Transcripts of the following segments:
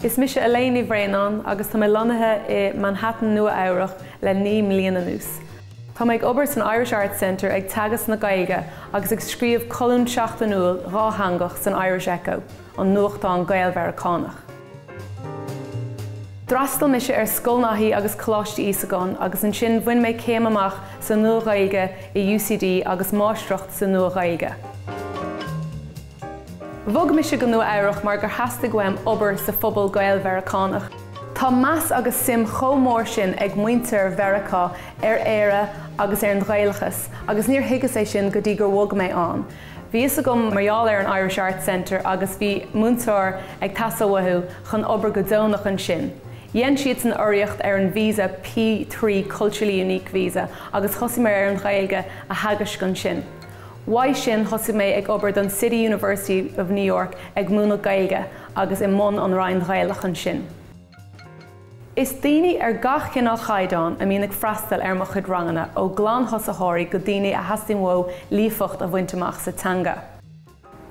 Is mise Elaine Ní Bhraonáin agus tá mé lonnaithe i Manhattan, Nua-Eabhrac le naoi mbliain anuas. Tá mé ag obair san Irish Arts Center ag teagasc na Gaeilge agus ag scríobh colún seachtainiúil dhátheangach san Irish Echo, an nuachtán Gael-Mheiriceánach. D'fhreastail mise ar Scoil Naithí agus Coláiste Íosagáin agus ansin bhain mé céim amach sa Nua-Ghaeilge i UCD agus Máistreacht sa Nua-Ghaeilge. Bhog mise go Nua Eabhrach mar gur theastaigh uaim obair sa phobal Gael-Mheiriceánach. Tá meas agus suim chomh mór sin ag muintir Mheiriceá ar Éire agus ar an Ghaelachas agus níor thuigeas é sin go dtí gur bhog mé ann. Bhí a fhios agam mar gheall ar an Irish Arts Center agus bhí múinteoir ag teastáil uathu chun obair go deonach ansin. Dhein siadsan urraíocht ar an visa P three Culturally Unique Visa agus thosaigh mé ar an Ghaeilge a theagasc ansin. Uaidh sin thosaigh mé ag obair don City University of New York ag múineadh Gaeilge agus i mbun an Roinn Ghaelach ansin. Is daoine ar gach cineál caighdeán a mbíonn ag freastal ar mo chuid ranganna, ó ghlanthosaitheoirí go daoine a theastaíonn uathu líofacht a bhaint amach sa teanga.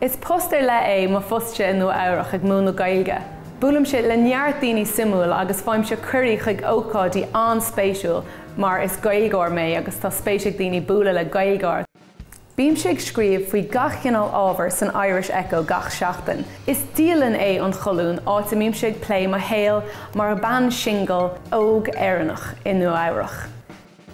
Is post ar leith é mo phostse i Nua Eabhrach ag múineadh Gaeilge. Buailimse le neart daoine suimiúil agus faighimse cuirí chuig ócáidí an-spéisiúil mar is Gaeilgeoir mé agus tá spéis ag daoine bualadh le Gaeilgeoir. Bímse ag scríobh faoi gach cineál ábhair san Irish Echo gach seachtain. Is dialann é an cholún, áit a mbímse ag plé mo shaol mar bean singil óg Éireannach i Nua-Eabhrac.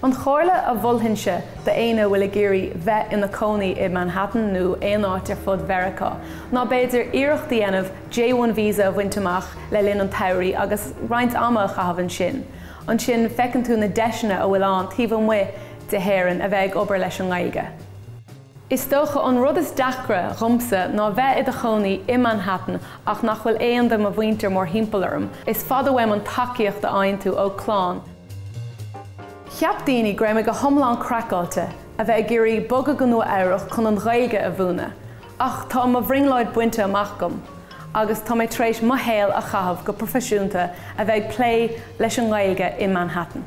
An chomhairle a mholfainnse d'éinne a bhfuil ag iarraidh bheith ina cónaí i Manhattan nó aon áit ar fud Mheiriceá ná b'fhéidir iarracht a dhéanamh J-1 visa a bhaint amach le linn an tsamhraidh agus roinnt ama a chaitheamh ansin. Ansin feiceann tú na deiseanna a bhfuil ann taobh amuigh de hÉireann a bheith ag obair leis an nGaeilge. Is dócha an rud is deacra dhomsa ná bheith i do chónaí i Manhattan ach nach bhfuil aon de mo mhuintir mórthimpeall orm, is fada uaim an tacaíocht a fhaigheann tú ó chlann, cheap daoine go raibh mé go hiomlán craiceáilte a bheith ag iarraidh bogadh go Nua Eabhrach chun an Ghaeilge a mhúineadh, Ach tá mo bhrionglóid bainte amach agam agus tá mé tar éis mo shaol a chaitheamh go proifisiúnta a bheith ag plé leis an nGaeilge i Manhattan.